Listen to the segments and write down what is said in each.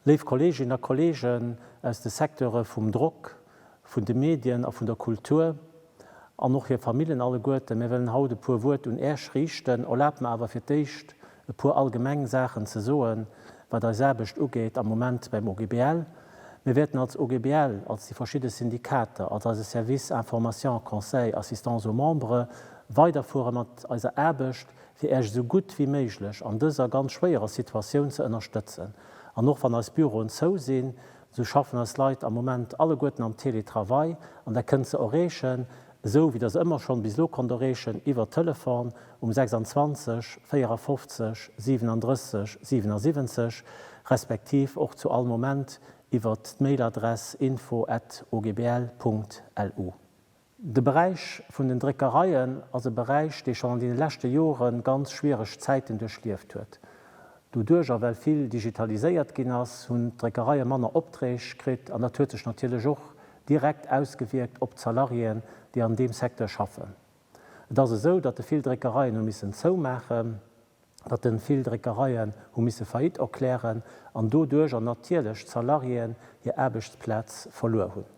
Léif Kolleeginnen a Kolleegen aus de Secteure vum Drock, vun de Medien a vun der Kultur an och hir Famillen alleguerten, mir wëllen haut e puer Wuert un Äech riichten. Erlaabt mer awer fir d'éischt e puer allgemeng Saachen ze soen, wat eis Aarbecht ugeet am Moment beim OGBL. Mir wäerten als OGBL, als déi verschidde Syndikater, als eise Service Information, Conseil, Assistance aux Membres weiderfuere mat eiser Aarbecht, fir Äech esou gutt wéi méiglech an dëser ganz schwéierer Situatioun ze ënnerstëtzen. An och wann eis Büroen zou sinn, esou schaffen eis Leit am Moment alleguerten am Teletravail an Der kënnt se erreechen, esou wéi Der se ëmmer schonn bis elo konnt erreechen, iwwer Telefon, um 26, 54, 37, 77, respektiv och zu all Moment iwwert d'Mailadress info at ogbl.lu. De Beräich vun den Dréckereien ass e Beräich, dee schonn an deene leschte Jore ganz schwiereg Zäiten duerchlieft huet. Doduerch, a well vill digitaliséiert ginn ass, hunn d'Dréckereie manner Opträg kritt an dat huet sech natierlech och direkt ausgewierkt op d'Salariéen, déi an deem Secteur schaffen. Et ass esou, datt e vill Dréckereien hu missen zoumaachen, datt e vill Dréckereien hu misse Faillite erklären an doduercher natierlech d'Salariéen hir Aarbechtsplaz verluer hunn.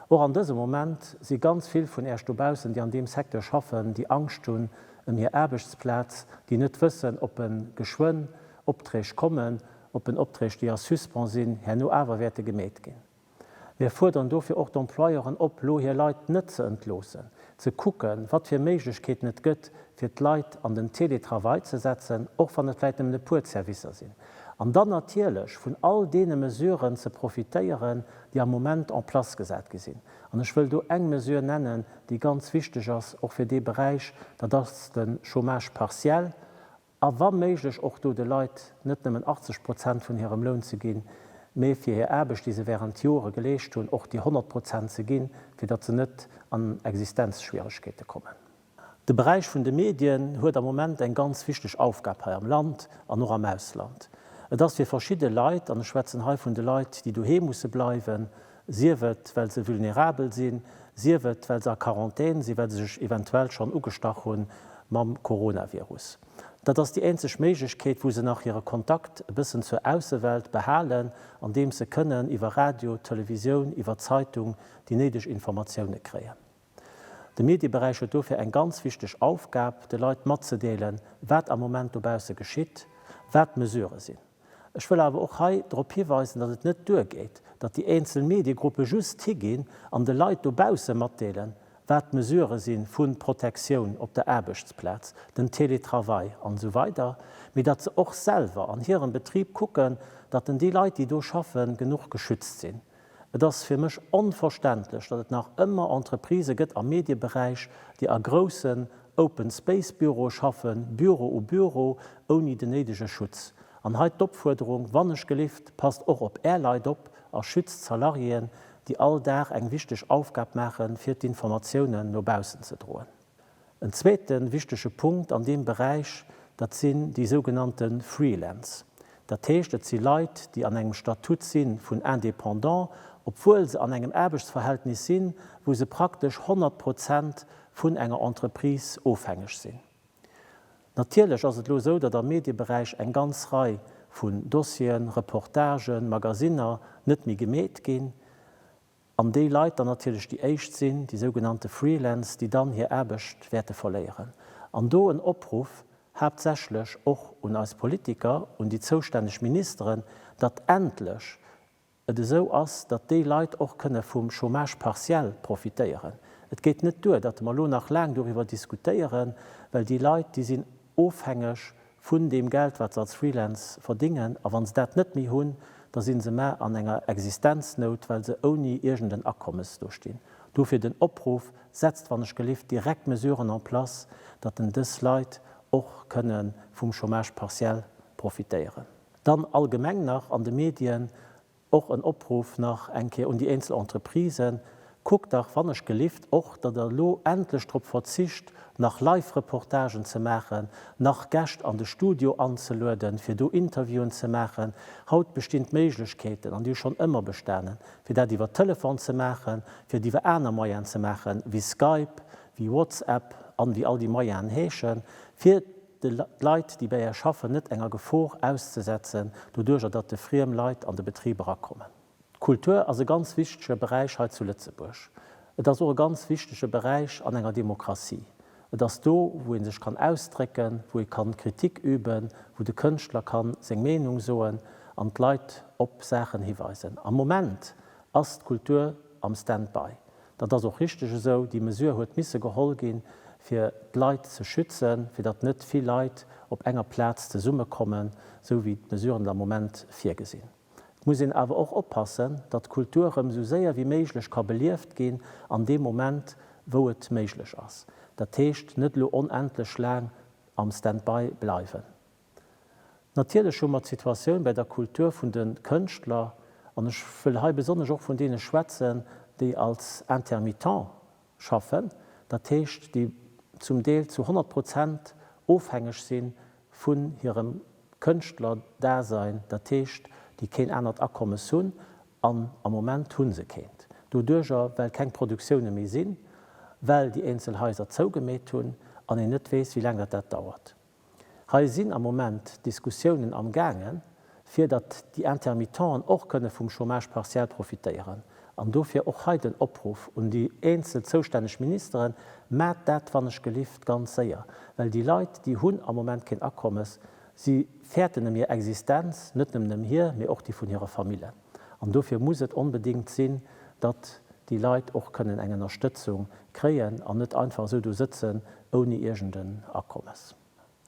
Och an dësem Moment si ganz vill vun Äerch dobaussen, déi an deem Secteur schaffen, déi Angscht hunn ëm hir Aarbechtsplaz, déi net wëssen, ob e geschwënn Opträg kommen, ob en Opträg, déi a Suspens sinn, herno awer wäerte gemeet ginn. Mir fuerderen dofir och d'Employeuren op, lo hir Leit net ze entloossen, ze kucken, wat fir Méiglechkeeten et gëtt, fir d'Leit an den Teletravail ze setzen, och wann et vläicht nëmmen e puer Servicer sinn, an dann natierlech vun all deene Mesuren ze profitéieren, déi am Moment en place gesat gi sinn. An ech wëll do eng Mesure nennen, déi ganz wichteg ass, och fir dee Beräich, dat ass de Chômage partiel a wa méiglech och do de Leit net nëmmen 80 Prozent vun hirem Loun ze ginn, mee fir hir Aarbecht, déi se während Jore geleescht hunn, och déi 100 Prozent ze ginn, fir datt se net an Existenzschwieregkeete kommen. De Beräich vun de Medien huet am Moment eng ganz wichteg Aufgab hei am Land an och am Ausland. Et ass fir verschidde Leit, an ech schwätzen hei vun de Leit, déi doheem musse bleiwen, sief et well se vulnerabel sinn, sief et well se a Quarantän sinn, well se sech eventuell schonn ugestach hu mam Coronavirus. Dat ass déi eenzeg Méiglechkeet, wou se nach hire Kontakt e bëssen zur Aussewelt behalen, andeems se kënnen iwwer Radio, Televisioun, iwwer Zeitung déi néideg Informatioune kréien. De Medieberäich huet dofir eng ganz wichteg Aufgab, de Leit matzedeelen, wat am Moment dobausse geschitt, wat d'Mesurë sinn. Ech wëll awer och hei drop hiweisen, datt et net duergeet, datt déi eenzel Mediegruppe just higinn an de Leit dobausse matdeelen, wat d'Mesurë si vu Protektioun op der Aarbechtsplaz, den Teletravail an esou weider, mee datt se och selwer an hirem Betrib kucken, datt déi Leit, déi do schaffen, genuch geschützt sinn. Et ass fir mech onverständlech, datt et nach ëmmer Entreprisë gëtt am Medieberäich, déi a groussen Open Space Büroe schaffen, Büro u Büro, ouni den néidege Schutz. An hei d'Opfuerderung, wannechgelift, passt och op Är Leit op a schützt d'Salariéen, déi all Dag eng wichteg Aufgab maachen, fir d'Informatiounen no baussen ze droen. En zweete wichtege Punkt an deem Beräich, dat sinn déi sougenannte Freelance. Dat heescht, et si Leit, déi an engem Statut si vun Indépendant, obwuel se an engem Aarbechtsverhältnis sinn, wou se praktesch 100 Prozent vun enger Entreprise ofhängeg sinn. Natierlech ass et elo esou, datt am Medieberäich eng ganz Rei vun Dossieren, Reportagen, Magasiner net méi gemeet ginn. An déi Leit dann natierlech déi éischt sinn, déi sougenannte Freelance, déi dann hir Aarbecht wäerte verléieren. An do en Opruff haaptsächlech och un eis Politiker, un déi zoustänneg Ministeren, datt endlech et esou ass, datt déi Leit och kënne vum Chômage partiel profitéieren. Et geet net duer, datt mer elo nach laang doriwwer diskutéieren, well déi Leit, déi sinn ofhängeg vun deem Geld wat se als Freelance verdingen a wann se dat net méi hunn, da sinn se mar an enger Existenznout, well se ouni iergend en Akommes do stinn. Dofir den Opruff, setzt wann ech gelift direkt Mesuren en place, datt en dës Leit och kënne vum Chômage partiel profitéieren. Dann allgemeng nach an de Medien Och en Opruff nach eng Kéier un déi eenzel Entreprisen, Kuckt dach wannechgelift och, datt Der elo endlech drop verzicht, nach Live-Reportagen ze maachen, nach Gäscht an de Studio anzelueden, fir do Interviewen ze maachen. Haut bestinn d'Méiglechkeeten, an déi hu schonn ëmmer bestanen, fir dat iwwer Telefon ze maachen, fir et iwwer aner Moyenen ze maachen, wéi Skype, wéi WhatsApp an wéi all déi Moyenen heeschen, fir d'Leit, déi bei Är schaffen, net enger Gefor auszesetzen, doduerjer datt de friem Leit an de Betrib erakommen. D'Kultur ass e ganz wichtege Beräich hei zu Lëtzebuerg. Et ass och e ganz wichtege Beräich an enger Demokratie. Et ass do, wou ee sech kann ausdrécken, wou ee kann Kritik üben, wou de Kënschtler kann seng Meenung soen an d'Leit op Saachen hiweisen. Am Moment ass d'Kultur am Standby. Dat ass och richteg esou. Déi Mesure huet misse geholl ginn, fir d'Leit ze schützen, fir datt net vill Leit op enger Plaz zesummekommen, esou wéi d'Mesuren der Moment virgesinn. Et muss een awer och oppassen, datt d'Kultur erëm esou séier wéi méiglech ka belieft ginn an deem Moment, wou et méiglech ass. Dat heescht, net elo onendlech laang am Stand-by bleiwen. Natierlech hu mer d'Situatioun bäi der Kultur vun de Kënschtler, an ech wëll hei besonnesch och vun deene schwätzen, déi als Intermittent schaffen, dat heescht, déi zum Deel zu 100 Prozent ofhängeg si vun hirem Kënschtlerdasein, dat heescht, déi keen anert Akommes hunn, an am Moment hu se keent doduerjer, well keng Produktioune méi sinn, well déi eenzel Haiser zougemeet hunn an een net weess, wéi laang datt dat dauert. Hei sinn am Moment Diskussiounen am gaange fir datt déi Intermittenten och kënne vum Chômage partiel profitéieren. An dofir och hei den Opruff un déi eenzel zoustänneg Ministeren, Maacht dat wannechgelift ganz séier, well déi Leit déi hunn am Moment keen Akommes, si fäerten ëm hir Existenz, net nëmmen ëm hir, mee och déi vun hire Famillen. An dofir muss et onbedéngt sinn, datt déi Leit och kënnen eng Ënnerstëtzung kréien an net einfach esou do sëtzen ouni iergend en Akommes.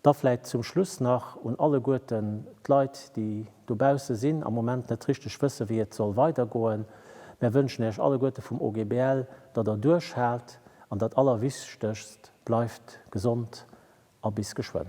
Da vläit zum Schluss nach un alleguerten d'Leit, déi dobausse sinn, am Moment net richteg wësse wéi et soll weidergoen, Mär wënschen Iech alleguerte vum OGBL, datt Der duerchhaalt an dat Allerwichtegst, Bleift gesond a bis geschwënn.